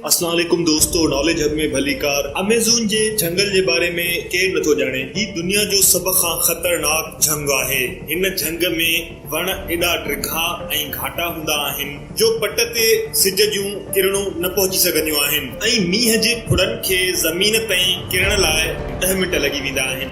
السلام عليڪم دوستو ناليج هب ۾ ڀليڪار اميزون جي جهنگل جي باري ۾ ڪير نٿو ڄاڻي هي دنيا جو سڀ کان خطرناڪ جهنگ آهي هن جهنگ ۾ وڻ ايڏا ڊگها ۽ گهاٽا هوندا آهن جو پٽ تي سج جون ڪرڻون نه پهچي سگهنديون آهن ۽ مينهن جي ڦڙن کي زمين تائين ڪرڻ لاء ڏهه منٽ لڳي ويندا آهن.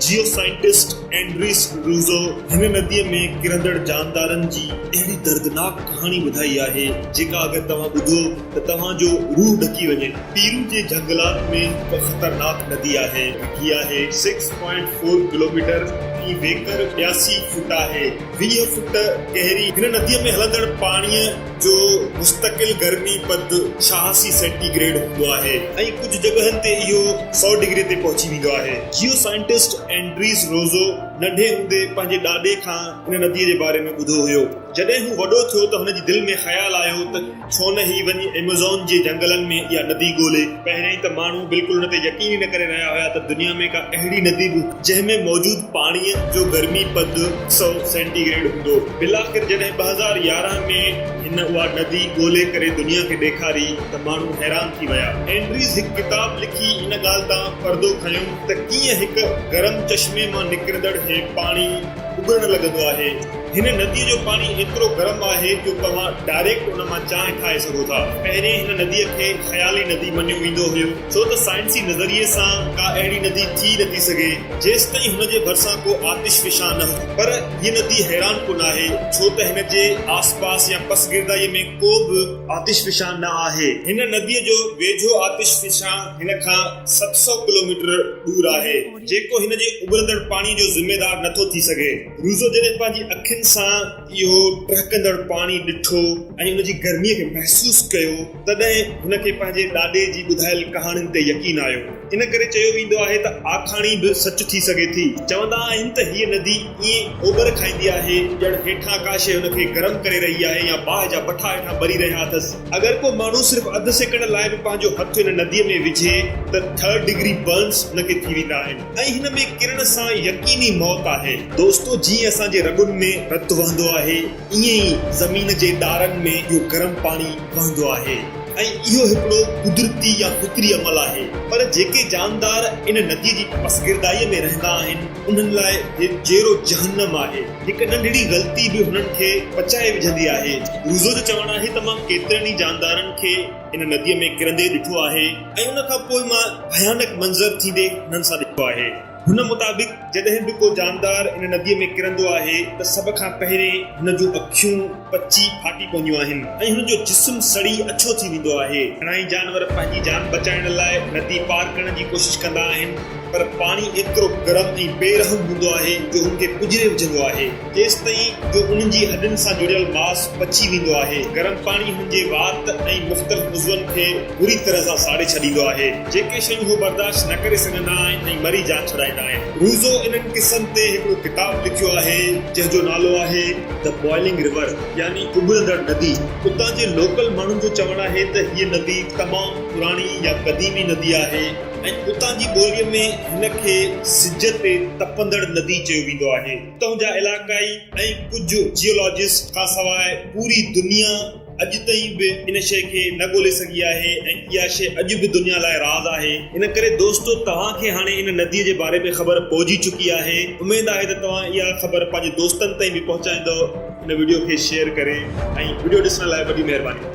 جيو سائنٽسٽ اينڊريس روزو هن نديء ۾ ڪرندڙ جاندارن جي اهڙي دردناڪ ڪهاڻي ٻڌائي آهي، جيڪا اگر توهان ٻڌو ته توهان جو روح ڏڪي وڃي. پيرو جي جهنگلات ۾ هڪ خطرناڪ ندي آهي. ڊگهي آهي، سڪس پوائنٽ فور ڪلوميٽر ۽ ويڪر ٻياسي فوٽ آهي، ويهه فوٽ گهري. هن نديء ۾ هلندڙ پاڻيء جو مستقل گرمي پد ڇهاسي سينٽي گريڊ هوندو آهي ۽ ڪجهه جڳهن تي اهو سؤ ڊگري تي پهچي ويندو آهي. جيو سائنٽسٽ اينڊريز روزو ننڍي هوندي پنهنجي ڏاڏي کان هن نديء جي باري ۾ ٻڌو هيو. جڏهن هو وڏو ٿيو ته هن جي دل ۾ خيال آيو ته. ڇو نه هي وڃي ايميزون جي جهنگلن ۾ اها ندي ڳولي. پهريائين ته ماڻهو بلڪل ان تي يقين ئي نه ڪري رهيا هيا ته دنيا ۾ ڪا اهڙي ندي به هوندي جنهن ۾ موجود پاڻيء جو گرمي پد سؤ سينٽي گريڊ هوندو. بالآخر جڏهن ٻه هزار يارهن ۾ هن اها ندي ڳولي ڪري دنيا کي ڏيکاري ته ماڻهو حيران ٿي ويا. اينڊريز هڪ ڪتاب لکي ان ڳالهه تان پردو کنيو ته ڪيئن هڪ گرم چشمي مان نڪرندڙ هي پاڻي اٻرڻ لڳندو آهي. هن نديء جو پاڻي ايترو گرم آهي جو توهان ڊائريڪٽ ان مان چانهه ٺاهي سگهو ٿا. پهرين هن نديء کي خيالي ندي مڃيو ويندو هيو ڇو ته سائنسي نظريي سان ڪا اهڙي ندي ٿي نٿي سگهي جيستائين هن جي ڀرسان ڪو آتش فشان نه هجي پر هيء ندي حيران ڪن آهي ڇو ته هن جي آس پاس يا پس گردائيء ۾ ڪو به آتش فشان نه آهي. هن نديء جو ويجهو آتش فشان هن کان ست سؤ ڪلوميٽر ڏور آهي. جيڪو هن جي اٻرندڙ پاڻي جو ذميدار نه ٿو ٿي سگهي. روزو جڏهن پنهنجي اکين سان اهو ٽهڪندڙ پاڻي ڏٺو ۽ ان جي گرميء کي محسوس ڪيو، تڏهن هن کي پنهنجي ڏاڏي جي ٻڌايل ڪهاڻين تي يقين آيو. ان ڪري چيو ويندو آهي ته آکاڻي به سچ ٿي سگهي ٿي. چوندا آهن ته هيء ندي ائين اوٻر کائيندي آهي، ڄڻ هيٺان ڪا شيء هن کي گرم ڪري رهي آهي يا باهه جا بٺا هيٺان ٻري رهيا اٿس. اگر ڪو ماڻهو صرف اڌ سيڪنڊ لاء به پنهنجو هٿ ان نديء ۾ وجهي ته ٿرڊ ڊگري برنز ان کي ٿي ويندا آهن ۽ هن ۾ ڪرڻ سان يقيني موت آهي. دوستو جيئن اسان جي رڳن ۾ رت وهندو آهي ائين ئي زمين جي ڏارن ۾ اهو گرم پاڻي وهندو آهي ۽ اهو هڪڙو قدرتي يا فطري عمل آهي پر جيڪي جاندار ان نديء جي پسگردائيء ۾ رهندا آهن انهن لاء هي جيئرو جهنم آهي. هڪ ننڍڙي غلطي به هنن کي پچائي وجهندي آهي. روزو جو چوڻ آهي ته مان ڪيترن ئي جاندارن کي ان نديء ۾ ڪرندي ڏٺو آهي ۽ ان کان پوء مان ڀيانڪ منظر ٿيندي هنن سان ڏٺو آهي. هن مطابق جڏهن به ڪو جاندار ان نديء ۾ ڪرندو آهي ته سڀ کان پهرين هن جون اکيون، پچي ڦاٽي پونديون آهن ۽ هن جو جسم سڙي اڇو ٿي ويندو آهي. گهڻائي جانور پنهنجي جان بچائڻ لاء ندي پار ڪرڻ جي ڪوشش ڪندا آهن پر پاڻي ايترو گرم ۽ بي رحم هوندو آهي جو هن کي پڄري وجهندو آهي جيستائين جو انهن جي هڏن سان جڙيل ماس پچي ويندو آهي. گرم پاڻي هن جي وات ۽ مختلف عضون کي بري طرح سان ساڙي ڇڏيندو آهي جيڪي شيون هو برداشت نه ڪري سگهندا آهن ۽ مري جان ڇڏائيندا آهن. روزو انهن قصن تي هڪڙو ڪتاب لکيو آهي جنهن جو نالو آهي. The Boiling River يعني اٻرندڙ ندي، اتان جي لوڪل ماڻهن جو چوڻ آهي ته هيء ندي تمام پراڻي يا قديمي ندي آهي ۽ اتان جي ٻوليء ۾ هن کي سج تي تپندڙ ندي چيو ويندو آهي. اتان جا علائقائي ۽ ڪجهه جيولاجسٽ کانسواء پوري دنيا، اڄ تائين به ان شيء کي نه ڳولي سگهي آهي ۽ اها شيء اڄ به دنيا لاء راز آهي. ان ڪري دوستو توهان کي هاڻي ان نديء جي باري ۾ خبر پئجي چڪي آهي. اميد آهي ته توهان اها خبر پنهنجي دوستن تائين به پهچائيندؤ. هن وڊيو کي شيئر ڪري ۽ وڊيو ڏسڻ لاء وڏي مهرباني.